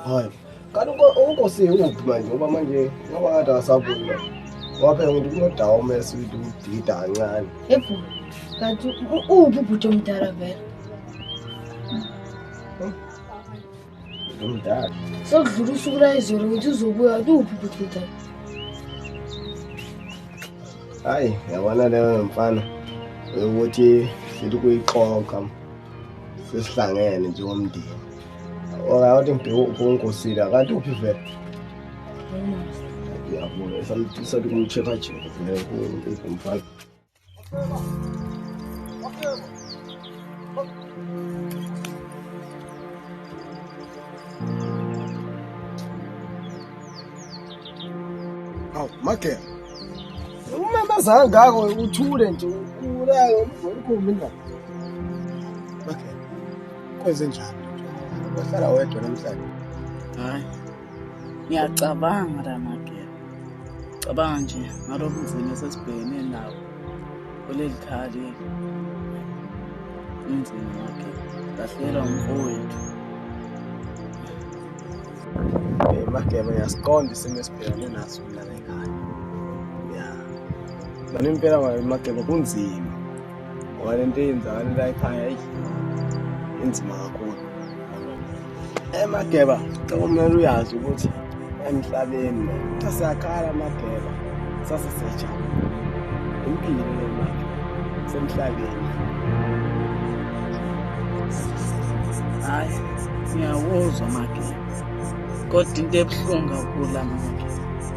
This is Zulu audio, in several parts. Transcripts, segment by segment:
hayi kanti unkosi uphi manje ngoba manje ngoba ngathi akasabuyi manje waphela ukuthi kunodawo umese ukuthi udida kancane ebhu kanti uphi ubhuti omdala vele Ngumdala. Sekudlula usuku layizolo ngithi uzobuya kuphi bhuti Hayi, yabona leyo mfana ukuthi sithi kuyiqoqa sesihlangene njengomndeni. Okawuthi ngibheke uNkosile kanti uphi vele? Ngiyabona, esamtisa ukuthi kumcheck-a-check vele kumfana. Hawu, Magela. Umamazanga ngako uthule nje ukulayo umkhulu indaba. Magela. Kwenze njani? Wahlala wedwa namhlanje. Hayi. Ngiyacabanga Ramagela, cabanga nje ngalo buzima esesibhekene nawo kuleli khaya lethu. Kunzima Magela, ngahlelwa umfowethu. Eh, Magela, uyasiqonda isimo esibhekene naso mina nengane. Ya. Nami impela Magela kunzima. ngoba le nto eyenzakala la ekhaya eyi inzima kakhulu emageba okumele uyazi ukuthi emhlabeni sasiyakhala amageba sase siyajabula impilo lemali semhlabeni hayi ngiyawuzwa amageba kodwa into ebuhlungu kakhulu amageba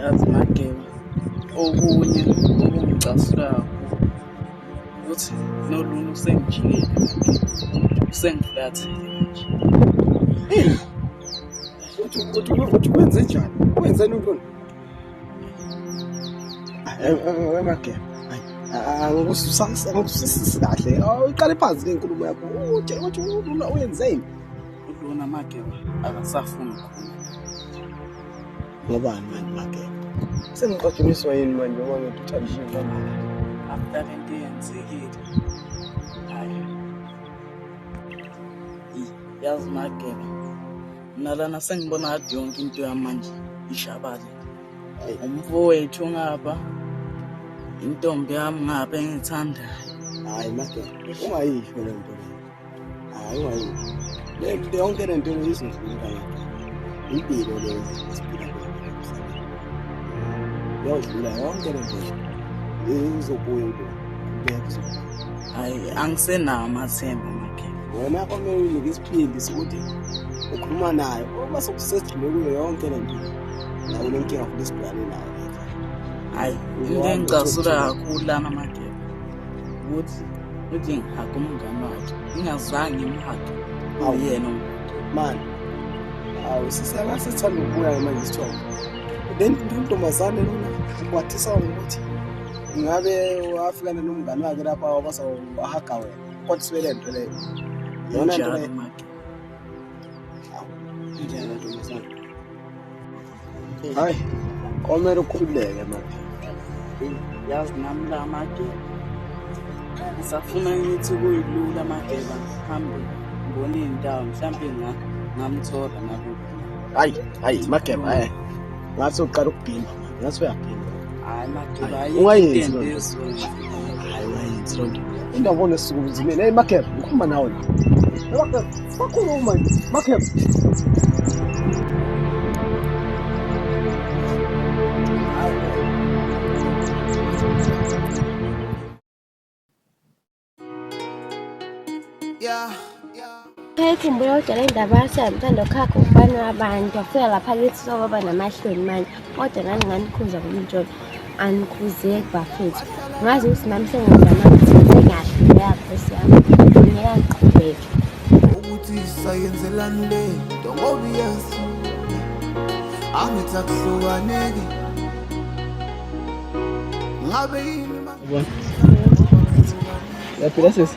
yazi mageba okunye okungicasulayo ukuthi nolunye usengijikile usengiflathile uthi kwenze njani wenzeni untoni mageba angikusisisi kahle iqale phansi ke inkulumo yakho uthi uthi uyenzeni ulona mageba akasafuni khona Ngobani manje Mageba? Sengixotshimiswa yini manje ngoba ngithi uthandishiwe kangaka? After le nto eyenzekile. Hayi. Yazi Mageba. Mina lana sengibona ngathi yonke into yami manje ishabale. Umfowethu ngapha. Intombi yami ngapha engithandayo. Hayi Mageba, ungayisho le nto. hayi wayo le nto yonke le nto izingqinga impilo le siphila yodlula yonke le nto izobuya into hayi angisenawo amathemba makhe wena komele unike isiphindi sokuthi ukhuluma nayo uma sokusedlule kuyo yonke le nto nawo le nkinga futhi sibhekane nayo hayi into engicasula kakhulu lana makhe ukuthi uthi ngihage umngane wakhe ngingazange ngimhage awuyena mani awu sisela sithanda ukubuya manje isithombe then intombazane lona ukwathisa ngokuthi ngabe wafikana nomngane wakhe lapha wabasa wahaga wena kodwa sibe le nto leyo yona nto leyo injalo ntombazane hayi komele ukhululeke manje yazi nami la mageba ngisafuna ngithi kuyilula amageba hambe ngibone iy'ndawo mhlawumbe ngamthola nalokhu hayi hayi mageba e ngathi uqala ukubhimba ngathi uyabhimba hayi mageba ungayenzi loo nto hayi ungayenzi loo nto indawo bona esukumzimeni eyi mageba ngikhuluma nawe la Bakhuluma nje. Bakhepha. Ngiyayikhumbula kodwa le ndaba yase yamthanda ukhakha ubani wabantu wafika lapha kithi soba namahloni manje kodwa nani nganikhunza kumjolo anikhuzeki bafethu ngazi ukuthi nami sengizama ukuthi ngikahle ngeyakhosi yami ngiyeka ngiqhubeke ukuthi sayenzelani le nto ngoba iyazi angithi akuhlukaneki ngabe yini yaphila sesi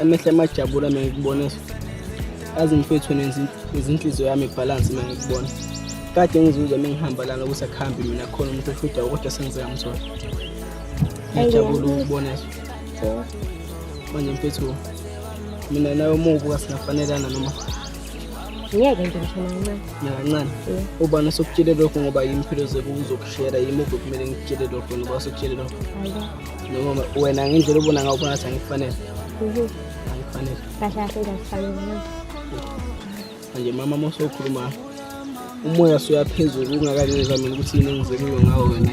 amehla amajabula mina ngikubona azi mfethu nezinhliziyo yami ibhalansi mina ngikubona kade ngizuzwa uma ngihamba lana ukuthi akuhambi mina khona umuntu ofidayo kodwa sengizeka mzona ngijabula ukubona manje mfethu mina nawe uma ubuka singafanelana noma ngeke nje mshana kancane nakancane ubani osokutshele lokho ngoba yimi phela uzokushera yimi obekumele ngikutshele lokho noba osokutshele lokho noma wena ngendlela ubona ngayo ubona sangifanele mhm. angifanele kahle kahle ngifanele manje mama mose ukhuluma umoya soyaphezulu ungakangizwa mina ukuthi yini engizelwe ngawo wena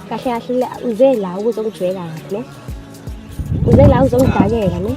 kahle kahle uze la ukuzongijweka ne uze la uzongidakela ne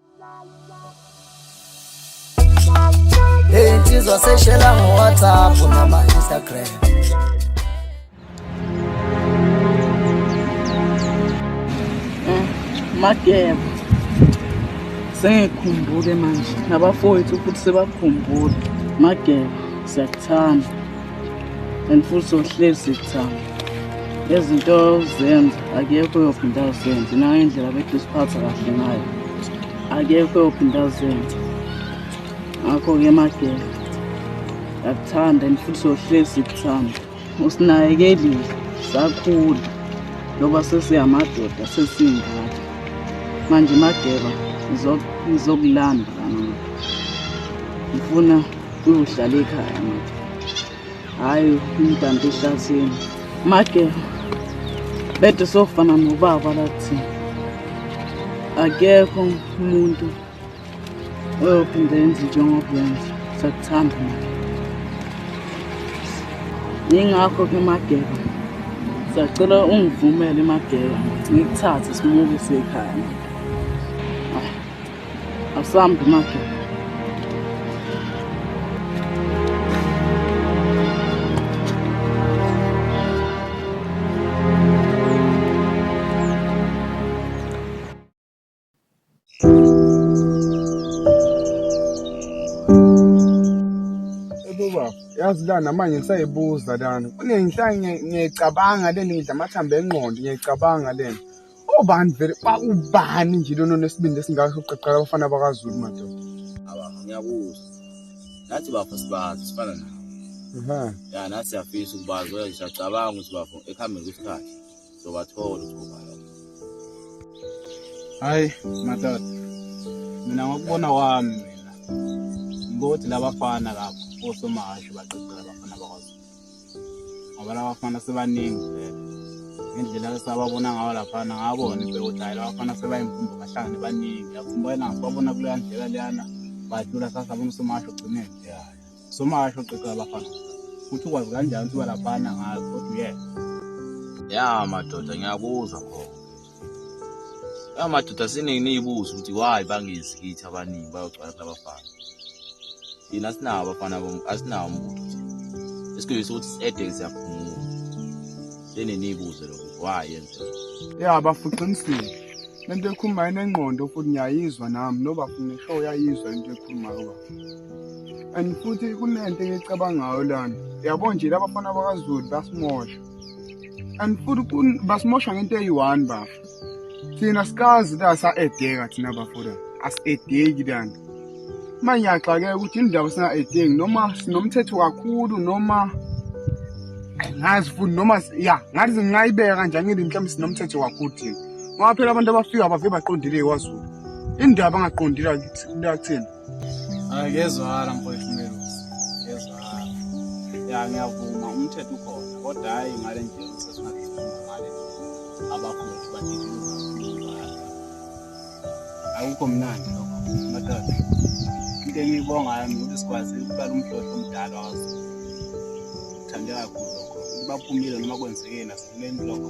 Hey, insizwa seshela ngo-whatsapp nama-instagram Mageba. Sengikhumbule manje nabafowethu futhi sebakhumbule. Mageba, siyakuthanda. and futhi uhlezi kuthami izinto ozenza akekho uyophinda azenze nangendlela bethu siphatha kahle ngayo akekho uyophinda azenze ngakho-ke magela yakuthanda and futhi uyohlezi kuthanda usinayekelile sakhula njengoba sesiyamadoda sesiyingane manje mageba ngizokulanda kanini ngifuna Uyohlala ekhaya manje. Hayi umdambi ehlathini. Make bede sofana nobaba lathi. Akekho umuntu oyophinde yenze njengoba yenza. Sakuthanda manje. Yingakho ke Mageba. Sacela ungivumele Mageba ngikuthathe simuke sekhaya. Asambi manje. Baba, yazi la namanje ngisayibuza lana. Kunenhla ngiyicabanga leni ngidla amathambo engqondo ngiyicabanga lena. Ubani vele ubani nje lona onesibindi esingaka sokuqeqela abafana bakwaZulu madoda. Aba ngiyakuzwa. Nathi bafo sibazi sifana nawe. Aha. Ya nathi siyafisa ukubazi kodwa siyacabanga ukuthi bafo ekuhambeni kwesikhathi sobathola ukubhala. Hayi madoda. Mina ngokubona wami mina. Ngokuthi labafana lapho osomahashe baqeqela abafana bakwaZulu. ngoba laba bafana sebaningi vele ngendlela esababona ngayo laphana ngabona impela ukuthi hhayi laba bafana sebayimfumbo bahlangane baningi yafumba yena ngisibabona kuleya ndlela leyana badlula sasabona usomasho ugcineni somasho ugqigqa abafana ukuthi ukwazi kanjani ukuthi uba laphana ngazi kodwa uyena ya madoda ngiyakuzwa khona amadoda siningi niyibuza ukuthi why bangezi kithi abaningi bayogcwala kulabafana yini asinawo abafana asinawo umuntu esikuyisa ukuthi si-ede siyaphumula leni niyibuze lokhu why yenzeka ya bafuqinisile lento ekhulumayo inengqondo futhi ngiyayizwa nami nobafuna ishow yayizwa into ekhulumayo baba and futhi kunento engicabangayo lana yabo nje labafana bakazulu basimosha and futhi basimosha ngento eyi-one bafo thina sikazi la sa-edeka thina bafoda asi-edeki lana uma ngiyaxakeka ukuthi indaba singa-edeki noma sinomthetho kakhulu noma ngazi futhi noma ya ngathi ngingayibeka kanjani ngile mhlawumbe sinomthetho kakhulu thina ngoba phela abantu abafika bavike baqondile kwazulu indaba angaqondile kuthina Ngiyezwakala mfowethu Melusi, ngiyezwakala. Ya ngiyavuma umthetho ukhona kodwa hhayi ngale nje sesingakhuluma ngale abafowethu badiduluka akukho mnandi lokho madoda. Into engiyibongayo mina ukuthi sikwazi ukuqala umhlotho omdala wazo. Thande kakhulu lokho. Baphumile noma kwenzekeni asikubeni lokho.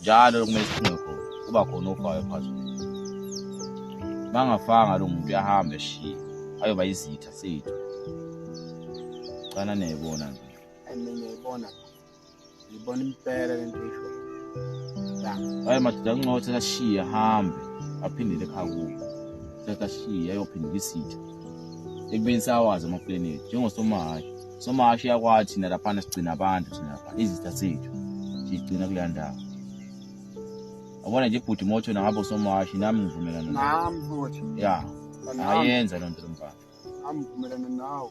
njalo kumele siphunge khona kuba khona ofayo phakathi bangafanga lo muntu uyahamba eshiye ayoba izitha sethu cana niyayibona nje ngiyayibona ngiyibona impela le nto isho hayi madoda kuncothi kashiye ahambe aphindele ekhaya kubo sekashiye ayophindela isitha ekubeni sawazi amaplanethi njengosomahayi somashi yakwathi thina laphana sigcina abantu thina laphana izitha zethu sigcina kuleya ndawo abona nje ibhuti moto nabo somashi nami ngivumelana nami futhi ya ayenza loo nto lo mfana nami ngivumelana nawo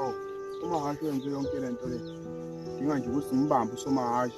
oh somahashi wenze yonke le nto le dinga nje ukuthi ngimbambe usomahashi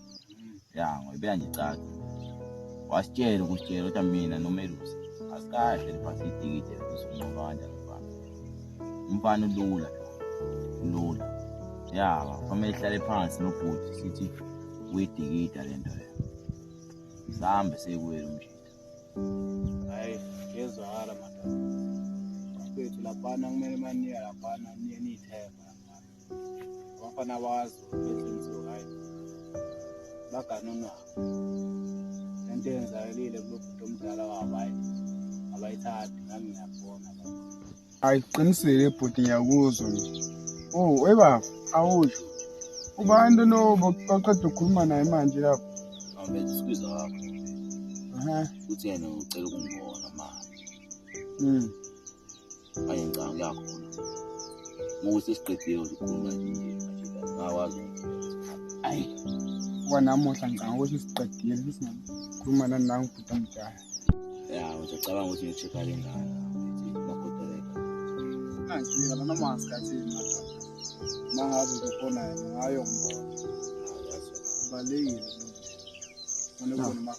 ya ngoyibeka nje caca wasitshela ukusitshela kodwa mina nomelusi asikahle liphasi itikite lokusunqoba kanjani umfana umfana ulula ulula ya kwamele ihlale phansi nobhuti sithi uyidikida le nto le sihambe seyikuwela umshita hayi ngezwakala madoda bafethu laphana kumele maniya laphana niye niyithemba abafana wazo enhliziyo right baganunwa lento yenzakalile kulobhuti omdala wabo hayi abayithathi nami ngiyabona hayi qinisile bhuti ngiyakuzwa oh eba awusho ubani lona oqeda ukukhuluma naye manje lapho awubenza isibizo wakho uthi yena ucela ukungibona manje hmm. manje ngicanga kuyakhona uma ukuthi siqedile ukukhuluma nje ngakwazi ayi kwanamuhla ngicanga ukuthi siqedile sikhuluma nani nangu bhuti omdala ya ngizocabanga ukuthi ngi-check-a le ngane magodeleka angifika lana masikhathini madoda uma ngabe kukhona ngayo ngibona kubalulekile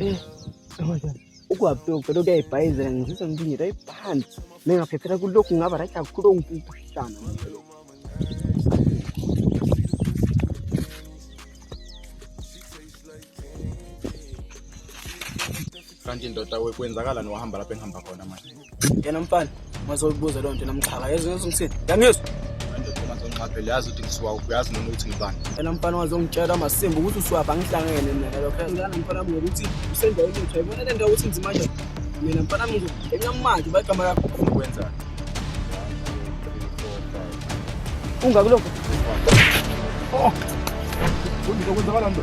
Eh, ukwaphi ucela ukuyayibhayizela ngizizwa ngithi nje right phansi mengaphephela kulokhu ngaba right kakhulu ongikuhlana kanti ndoda kwenzakalani wahamba lapho engihamba khona manje Yena mfana mazoyibuza loo nto namxhaka yezo yezo ngisini yangizwa ngizonqaphela yazi ukuthi ngisuka uphi yazi noma ukuthi ngibani yena mfana wazongitshela masimba ukuthi usuwaphi angihlangene mina lokho ngilana mfana wami ngokuthi usendaweni yethu ayibona le ndawo ukuthi nzima nje mina mfana wami ngizokuqenya manje uba igama lakho ufuna ukwenzani ungakulokho oh kuyini okwenzakala nto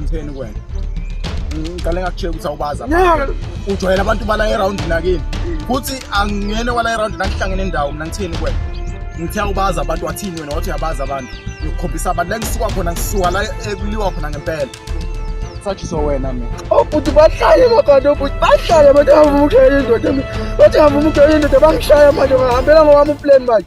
ngitheni kwena ngiqale ngakushela ukuthi awubaza ujwayela abantu bala erawundi nakini futhi angingene wala erawundi nangihlangene ndawo mina ngitheni kwena ngithe awubaza abantu wathini wena wathi uyabaza abantu ngikukhombisa abantu la ngisuka khona ngisuka la ekuliwa khona ngempela sathi so wena mina obhuti oh, bahlale makhona obhuti oh, bahlale abantu abavumukela indoda bathi avumukela indoda bangishaya manje ngahambela ngowami uplani manje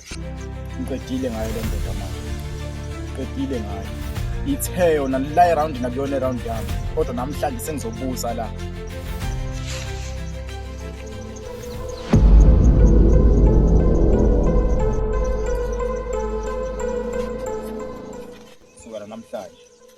ngiqedile ngayo le ndoda manje ngiqedile ngayo ithe yona la erawundi nakuyona erawundi yami kodwa namhlanje sengizobusa la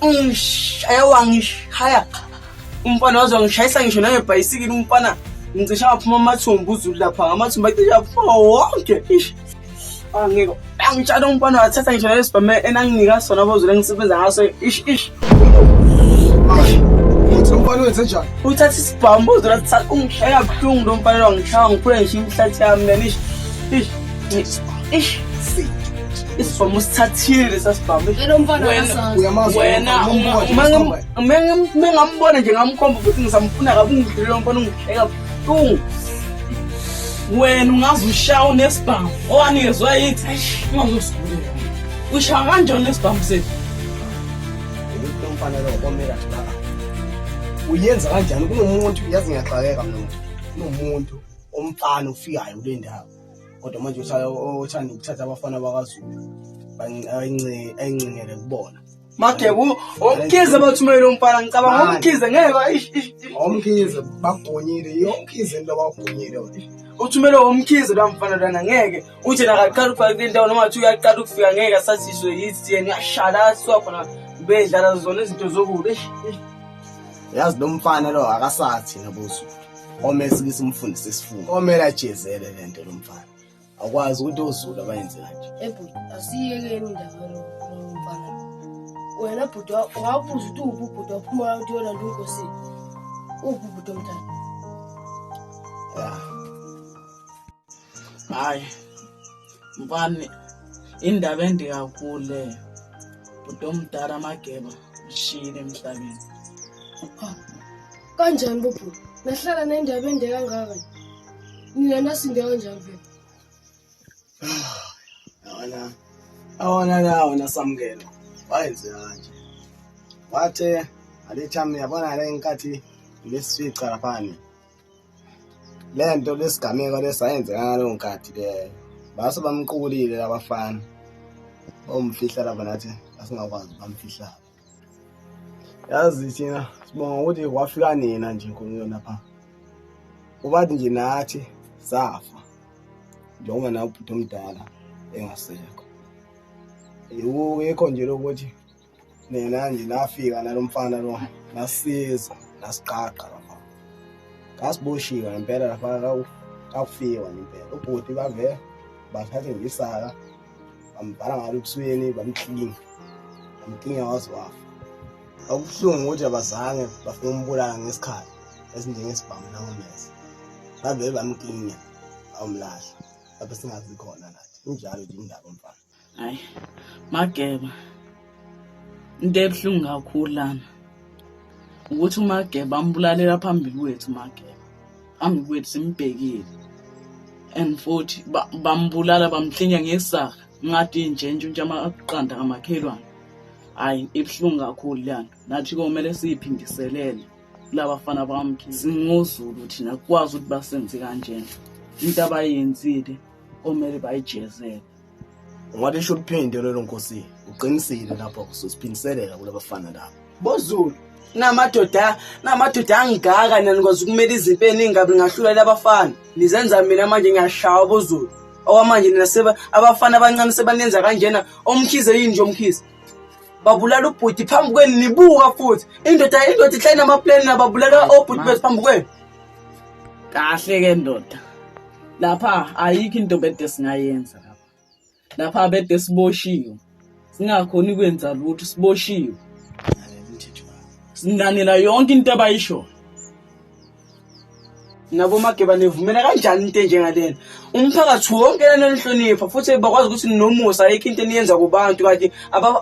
ungishaya wangishaya umfana waze wangishayisa ngisho nangebhayisikile umfana ngicisha waphuma amathumbu uzulu lapha ngamathumbu acisha aphuma wonke ish angeke angitshana umfana wathatha ngisho nalesibhame enanginika sona bozulu engisebenza ngaso ish ish umfana wenze njani uthatha isibhamu uzulu athatha ungishaya kabuhlungu lo mfana wangishaya ngiphule ngisho imihlathi yami lenish ish ish isibhamu sithathile sasibhamu mengamubona nje ngamkhomba ukuthi ngisamfuna kabi ungidlile lo mfana ungihleka buhlungu wena ungaze ushawe nesibhamu owanikezwa yithi ungazosigulela ushawa kanjani nesibhamu sethu umfana lo komela ngaka uyenza kanjani kunomuntu yazi ngiyaxakeka mina kunomuntu omfana ofikayo kule ndawo kodwa manje uthi othanda ukuthatha abafana bakazulu ayincingele kubona make omkhize bathumele umfana ngicabanga omkhize ngeke omkhize bagonyile yomkhize into abagonyile uthumele omkhize la mfana lana ngeke uthi nakaqala ukufika kule ndawo noma athi uyaqala ukufika ngeke asathiswe yithi yena uyashala asiwa khona bedlala zona izinto zokude yazi lo mfana lo akasathi nabuzo Omele sike simfundise isifundo. Omele ajezele lento lomfana. Akwazi ukuthi ozulu abayenze kanje. Ebhuti asiyekeni indaba lo mfana. Wena bhuti wabuza ukuthi uphi ubhuti waphuma uthi yona nto inkosi. Uphi ubhuti omdala? Yeah. hayi mfana indaba ende kakhulu leyo bhuti omdala amageba ushiyile emhlabeni kanjani bubhu nahlala nendaba ende kangaka nina nasinde kanjani vele awona awona lawo nasamukela wayenze kanje wathe alethami yabona le nkathi lesifica laphani le nto lesigameko lesayenzeka ngaleyo nkathi leyo base bamqukulile labafana omfihla laba nathi asingakwazi bamfihla yazi thina sibonga ukuthi wafika nina nje nkulunkulu lapha ubathi nje nathi safa njengoba nawe ubhuti omdala engasekho yikho nje lokuthi nina nje nafika nalo mfana lo nasiza nasiqaqa lapha ngasiboshiwe ngempela lapha kakufiwa ngempela ubhuti bave bathathe ngisaka bambhala ngalo ebusweni bamklinga bamklinga waze wafa okubuhlungu ukuthi abazange bafuna umbulala ngesikhathi esinjengesibhamu nangomese bavele bamklinya awumlahla lapho singazi khona nathi injalo nje indaba mfana hayi mageba into ebuhlungu kakhulu lana ukuthi umageba ambulalela phambili kwethu mageba phambili kwethu simbhekile and futhi bambulala bamhlinya ngesaka ngathi nje nje nje amaqanda kamakhelwane hayi ibuhlungu kakhulu leyana nathi komele siyiphindiselele kulaba fana bamkhi singozulu thina kwazi ukuthi basenze kanjena into abayenzile komele bayijezele Ungathi isho uphinde lelo nkosi. Uqinisile lapho ususiphindiselela kulabafana labo. Bozulu namadoda namadoda angigaka nani kwazi ukumela izinto eningabi ngahlulela abafana. Nizenza mina manje ngiyashawa bozulu. Okwamanje nina seba abafana abancane sebanenza kanjena omkhize yini nje omkhize. Babulala ubhuti phambi kwenu nibuka futhi. Indoda indoda ihlale namaplane nababulala obhuti bethu phambi kwenu. kahle ke ndoda lapha ayikho into bede singayenza lapha lapha bede siboshiwe singakhoni kwenza lutho siboshiwe singanela yonke into abayishoyo nabo mageba nivumela kanjani into enjengalena umphakathi wonke nanonihlonipha futhi bakwazi ukuthi nomusa ayikho into eniyenza kubantu kanti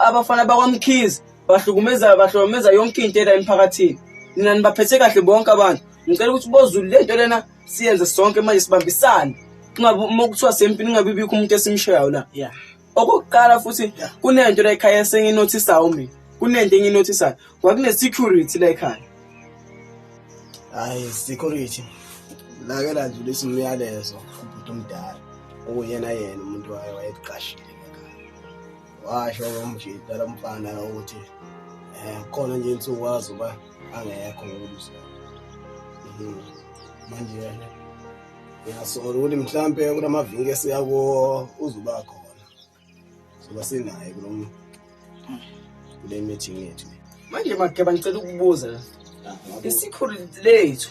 abafana bakwamkhizi bahlukumeza bahlukumeza yonke into ela emphakathini nina nibaphethe kahle bonke abantu ngicela ukuthi bozulu le nto lena siyenze sonke manje sibambisane kungabi uma kuthiwa sempini kungabi bikho umuntu esimshayayo la yeah okokuqala futhi kunento la ekhaya senginothisayo mina kunento enginothisayo kwakune security la ekhaya hayi security lake landlula isimyalezo ubhuti omdala okuyena yena umuntu wayo wayeqashile washo umjita lo mfana ukuthi um khona nje insuku wazi uba angekho ngokubusa mhm. manje yena ngiyasola ukuthi mhlampe kula mavinki esiya kuwo uzuba khona soba sinaye kulo kule meeting yethu manje makeba ngicela ukubuza isikhulu lethu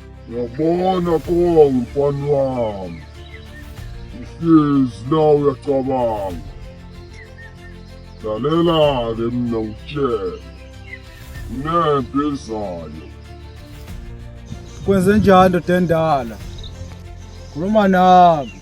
Yabona konga mfana wami. Uhlezi la uyacabanga. Lalela-ke mina ngitshele. Kunempi ezayo. Kwenze njani ndoda endala? Khuluma nami.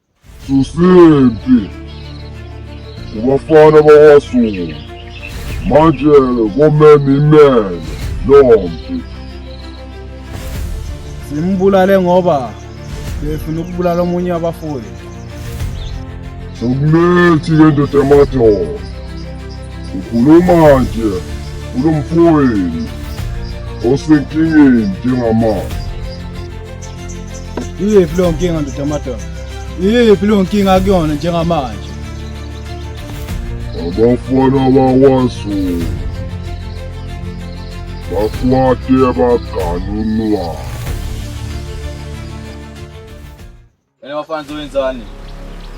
Susempi kubafana bakwaZulu manje komeme imele lompi simbulale ngoba befuna ukubulala omunye wabafundi sokumethi ke ndoda yamadoda ukhuluma nje kulo mfowenu osenkingeni njengamanje Iyephi leyo nkinga ndoda amadoda? Iyephi leyo nkinga akuyona njengamanje? Abafana bakwaZulu bakwate baganunwa. Wena bafana zowenzani?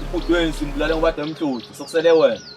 Ubhuti wenu simbulale ngoba demhluthu sokusele wena.